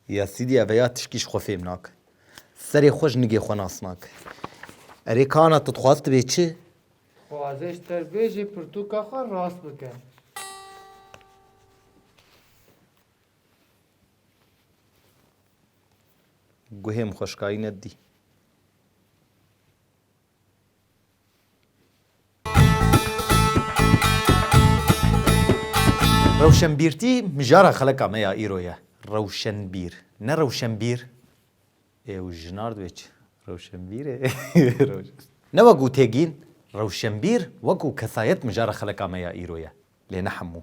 Ya sîdî eve ya tişkî ji xwe fêm nake. Serê xwe ji nigê xwe nas nake. Erê kana tu dixwaz tu bê çi? Dixwazê ji te bê jê pirtûka xwe rast bike. Guhêm xweşkayî nedî. Rewşenbîrtî mijara xeleka me ya îro ye. Rewşenbîr. Ne rewşenbîr. Ê û jinar divê çi? Rewşenbîr ê. Ne wek û têgîn, rewşenbîr wek û kesayet mijara xeleka me ya îro ye. Lê ne hemû.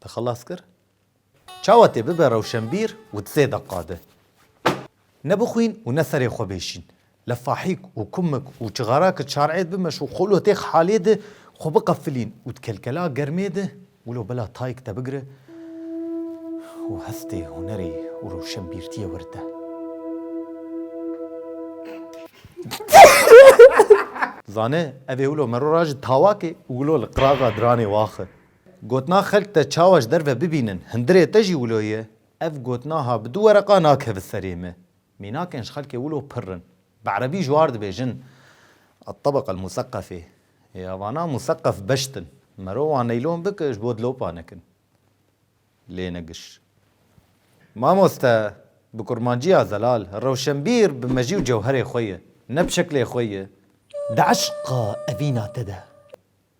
Te xelas kir? Çawa tê bibe rewşenbîr û di sê deqa de ne bixwîn û ne serê xwe bêşîn. Li fahîk û kumik û çixara ki çar'êd bimeş û xolotêx halê di xwe biqefilîn û di kelkela germê di wilo bela tayik te bigire û hestê hunerê û rewşenbîrtiyê wir de. Zane, evê wilo mero ra ji tawakê û wilo li qiraxa diranê waxe. Gotina xelk te çawa ji derve bibînin, hundirê te jî wilo ye, ev gotinaha bi du wereqa nakeve serê me. Mînakên ji xelkê wilo pirr in. Bi erebî ji war dibêjin At-tabaka el-musakafê. Ya vana musakaf beşt in. Merowan neylon bike ji bo dilopa nekin. Lê ne giş. Mamoste, bi kurmanciya zelal, rewşenbîr bi mejî û cewherê xwe ye. Ne bi şeklê xwe ye. Di eşqa evîna te de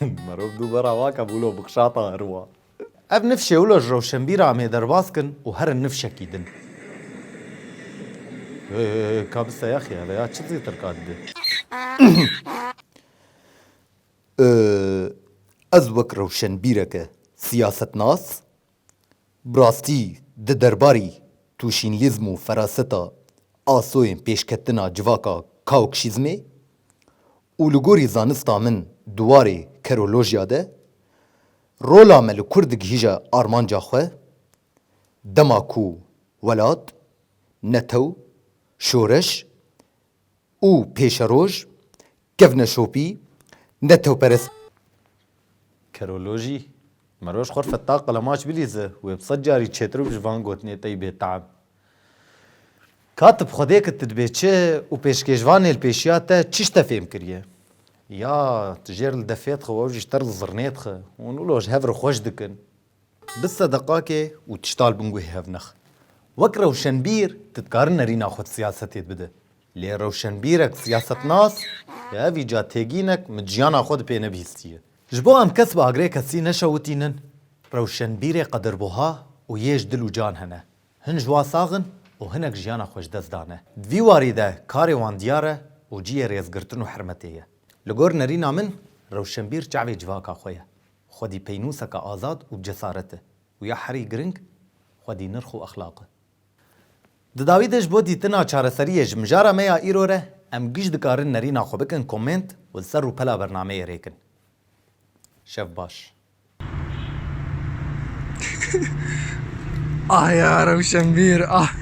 Merov du vera vake bûlo bixşata herwa. Ev nifşê wilo ji rewşenbîra em ê derbas kin û herin nifşekî din. Hey hey hey ka biste ya xî heve ya çi zêtir ka dibe. Ez wek rewşenbîreke siyasetnas bi rastî di derbarî tûşînlîzm û feraseta asoyên pêşketina civaka kaokşîzmê Û li gorî zanista min di warê kerolojya de, rola me li kur digihîje armanca xwe, dema ku welat, netew, şoreş û pêşeroj kevne şopî, netewperest, Kerolojî, Me roj xwe feta qelemaç bilîze, wê bi sed carî çêtir bi ji van gotinê tey bê team. Katib, Xwedê ki tu dibê çi û pêşkêşvanê li pêşiya te çiş te fêm kiriye? Ya, tu jêr li defê dixwe, ew jî ji te li zirnê dixe. Hûn wilo ji hev re xweş dikin. Bi sedeqakê û tiştal binguhê hevnex. Wek rewşenbîr tu dikarin nerîna xwe siyasetê bide. Lê rewşenbîrek siyasetnas bi hevî ca têgînek min ciyana xwe di pê nebihîstiye. Ji bo em kes bi agrê kesî neşewitînin, rewşenbîrê qedirbuha û yê ji dil û can hene. Hin ji wa sax in û hinek jiyana xwe ji dest dane. Di vî warî de karê wan diyar e û ciyê rêzgirtin û hirmetê ye. Li gor nerîna min rewşenbîr çavê civaka xwe ye. Xwedî peynûseke azad û cesaret e û ya herî giring xwedî nirx û exlaq e. Di dawî de ji bo dîtina çareseriyê ji mijara me ya îro re em giş dikarin nerîna xwe bikin komênt û li ser rûpela bernameyê rêkin. Şev baş. Ah ya rewşenbîr ah.